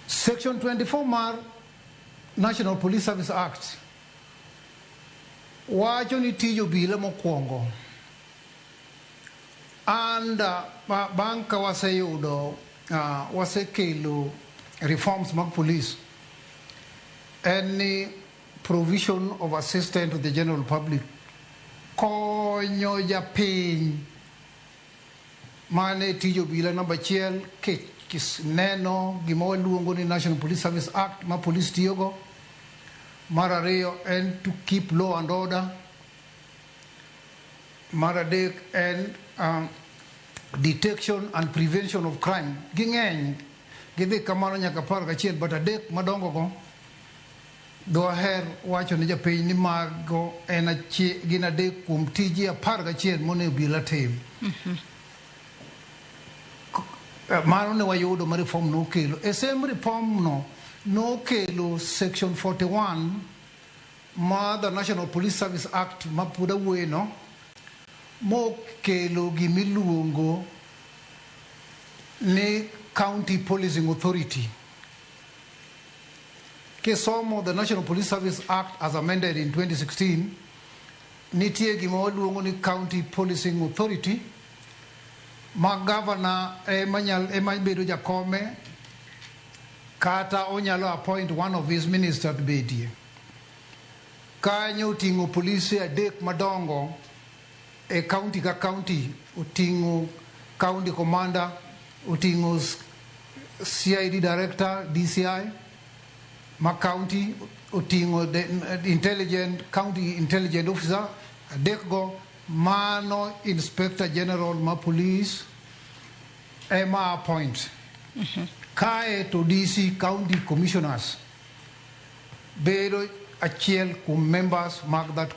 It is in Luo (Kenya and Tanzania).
Section 24 mar National Police Service Act wacho ni tij obila mokwongo and uh, ba- bang' ka waseyudo uh, wasekelo reforms mag police en ni provision of assistance to the general public konyo japiny Mano e tij obila namba achiel kineno gima waluongo ni National Police Service Act ma polis tiyogo. Mar ariyo en to keep law and order. Mar adek en um, detection and prevention of crime. Ging'eny gidhi kamano nyaka apar gachiel but adek madongogo Dwaher wacho ne japiny ni mago en achie, gin adek kuom tije apar gachiel monego obila tim. K- Mano ne wayudo ma reform nokelo. E sem reform no nokelo section 41 ma the National Police Service Act ma pod awuoye no mokelo gimiluongo ni County Policing Authority. Kisomo the National Police Service Act as amended in 2016, nitie gima waluongo ni County Policing Authority ma governor ema nyal ema bedo jakome kata onyalo appoint one of his minister to bedie. Kanyo oting'o polise adek madongo E county ka county oting'o county commander, oting'o CID director, DCI ma county oting'o intelligent county intelligent officer adek go mano inspector general ma police ema appoint mm -hmm. kae to DC county commissioners bedo achiel kuom members mag that committee.